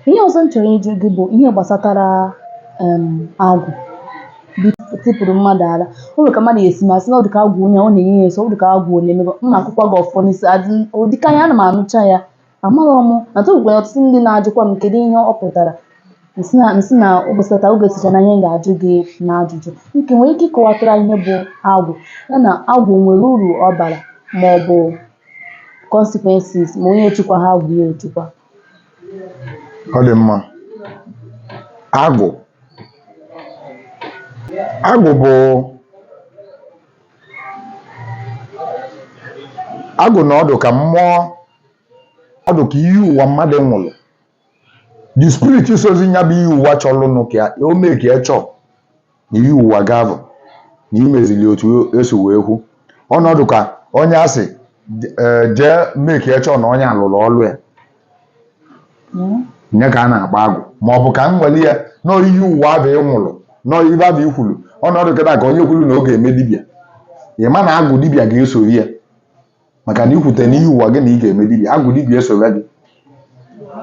ihe ọzọ m chọrọ ịjụ gị bụ ihe gbasatara em, agwụ tipụrụ mmadụ ala o nwere ka mmadụ si eme a sị na ọ dịka agwụ onye ọ na-enye ya nso ọ dịka agwụ onye emebe m na-akụkwa gị ọfọ n'isi adị ụdịka ya ana m anụcha ya amaghị m na tụgwara ọtụtụ ndị na-ajụkwa m kedu ihe ọ pụtara m sị na m sị na ụbọchị taa ọ ga-esocha n'ihe m ga-ajụ gị n'ajụjụ nke nwere ike ịkọwatara ihe bụ agwụ ya na agwụ nwere uru ọ bara ma ọ bụ consequences ma onye echukwaha agwụ ya echukwa ọ dị mma agwụ agwụ bụ agwụ na ọ dụ ka mmụọ ọ dụ ka iyi ụwa mmadụ nwụrụ the spirit sozi nya bụ iyi ụwa chọrọnụ ka o mee ka ya chọọ na iyi ụwa gị abụ na imezili otu esi wee kwu ọ na-adụ ka onye a sị jee mee ka e chọ na onye alụrọ ọlụ ya nya ka a na-akpọ agwụ ma ọ bụ ka m were ya na ọ iyi ụwa abụ ị nwụrụ na ọ ibe abụ i kwuru ọ na-adụ kịta ka onye kwuru na ọ ga-eme dibịa ị ma na agwụ dibịa ga-esori ya maka na ikwute n'iyi ụwa gị na ị ga-eme dibia agwụ dibia esobe gị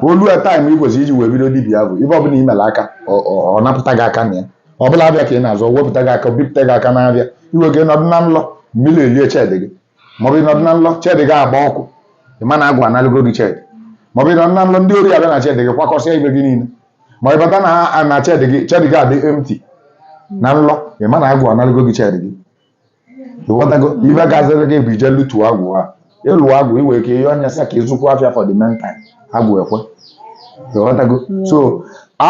o lue time ị kwesịrị iji wee bido dibia abụ ibe ọbụla i mere aka ọ- ọ ọ napụta gị aka na ya ọ bụlụ afịa ka ị na-azụ ọ wepụta gị aka bipụta gị aka n'afịa i nwee ike nọdụ na nlọ mmiri elie shed gị maọbụ ịnọdụ na nlọ shed gị agba ọkụ ị ma na agwụ analụgo gị shed maọbụ ịnọdụ na nlọ ndị ori abịa na shed gị kwakọsịa ibe gị niile ma ị bata na ha na shed gị shed gị adị empty na nlọ ị ma na agwụ analụgo gị shed gị ịghọtago ibe gaziri gị bụ ije lụtụ agwụ a ịlụ agwụ i nwere ike iyọ nya sị ka ị zụkwu afịa for the meantime agwụ ekwe ịghọtago so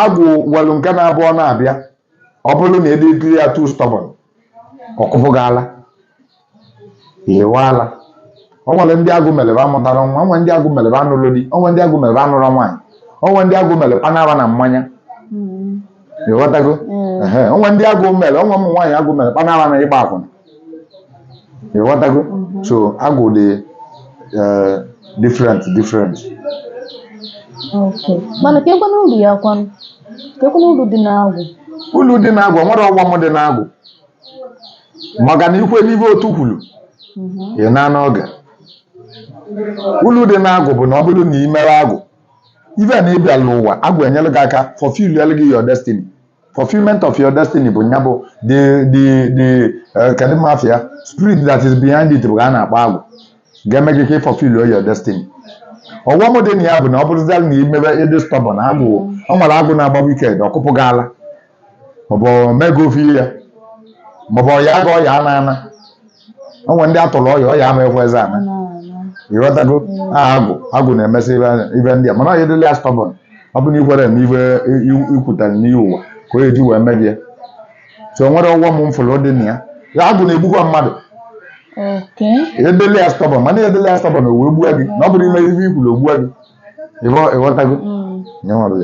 agwụ nwelụ nke na-abụ ọ na-abịa ọ bụrụ na ị dịịrị ya too stubborn ọ kụpụ gị ala i yiwe ala o nwere ndị agwụ mele be amụtarọ nwa o nwe ndị agwụ mele be anụlọ di o nwe ndị agwụ mele be anụrọ nwaanyị o nwe ndị agwụ mele banara na mmanya ịghọtago ehe o nwe ndị agwụ mere o nwe ụmụ nwaanyị agwụ mere banara na ịgba akwụna ịghọtago so agụ dị eh, different different Okay. mana kekwanụ uru ya kwanụ kekwanụ uru dị n'agwụ ulu dị n'agwụ o nwere ọghọm dị n'agwụ maka na ikwe n'ibe otu kwuru ị na n'oge ulu dị n'agwụ bụ na ọ bụrụ na ị mere agwụ ife a na ị bịalụ ụwa agwụ enyere gị aka fulfill ya gị your destiny fulfillment of your destiny bụ nya bụ the the the eh, kedu ma afa ya spirit that is behind it bụ ka a na-akpọ agwụ ga-eme gị ka ị fulfill your destiny ọghọm dị na ya bụ na ọ bụrụziala na imebe ịdị stubborn agwụ o nwere agwụ na-agba wicked ọ kụpụ gị ala maọbụ mega ofe ihe ya maọbụ ọya aga ọya ana ana o nwere ndị atụrụ ọya ọya ama ekwezi ana ịghọtago aha agwụ agwụ na-emesị ibe anya- ibe ndị a mana ọya dịla ya stubborn ọ bụ na ikwere na ibe i- i- ikwutere n'iyi ụwa ka o eji wee mebie so o nwere ọghọm m fụrụ dị na ya ya agwụ na-egbukwa mmadụ okay edele ya stubborn mana edele ya stubborn o wee gbua gị na ọ bụrụ ime ibe ikwuru o gbua gị Ịghọ- ịghọtago Mm. Nye nwa bụ ya.